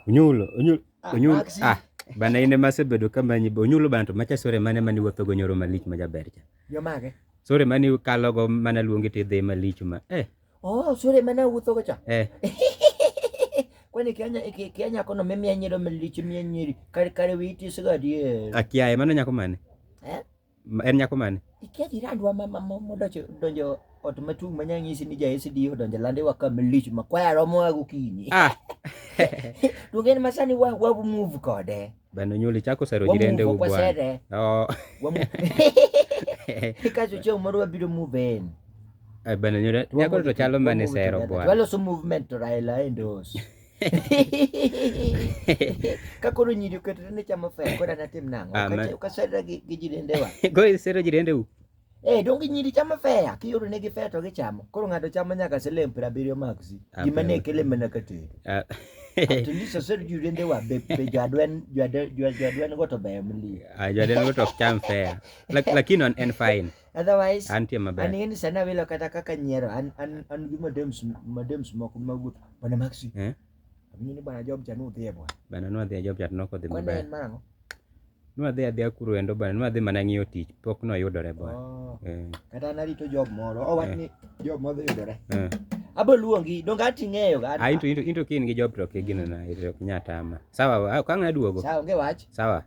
Onyulo, onyulo, ah, onyulo. Ah, bana ine masebedo kama nyibo onyulo bana to macha sore mane mani wuotho go nyoro malich ma jaber cha. Yo mage? Sore mani kalo go mana luongi ti dhi malich ma. Eh. Oh, sore mana wuotho go cha. Eh. Kwani kianya kianya kono mimi anyiro malich mimi anyiri. Kare kare witi sigadi. Akiaye mano nyako mane? Eh? en nyako mane ikia jirandwa modonjo ot matung' ma nyang'isi ni ja SD odonjo lande wa ka malich ma kwaya romo wa gokinyi ah. to gen ma sani wa wa move kode bano nyuli chako sero jirende u bwana oh kaso chieng' moro wabiro move in eh, bano nyuli nyako to chalo mane sero bwana waloso movement to Raila endos ka koro nyiri oketore ne chamo fea kod anatim nang'o ukaserra gi jidendewa koro isero jidendeu Eh, donge nyiri chamo fea kiyudo ne gi fea to gichamo koro ng'ato chamo nyaka siling piero abiriyo maksi gima ne kele mana ka tedo atleast osero jidendewa be jadwen jadwen go to ber mlie jadwen go to ok cham fea lakini en fine Otherwise, antie maber. An ng'eni sana wilo kata kaka nyiero an an an gi madems madems moko magu bana maxi. Eh? Amini bana job cha no dhie bwana. Bana no dhie job cha no ko dhi maber. Kwani marango? No adhi adhi akuru endo bana no adhi mana ng'iyo tich pok no yudore bwana. Oh. Eh. Kata narito job moro. Oh, wach eh. ni job moro yudore. Eh. Abo luongi, donge ati ng'eyo ga. Ah, into into into kin gi job to ke gino na, ito ok nyatama. Sawa, ah, ka ng'a duogo. Sawa, onge wach. Sawa.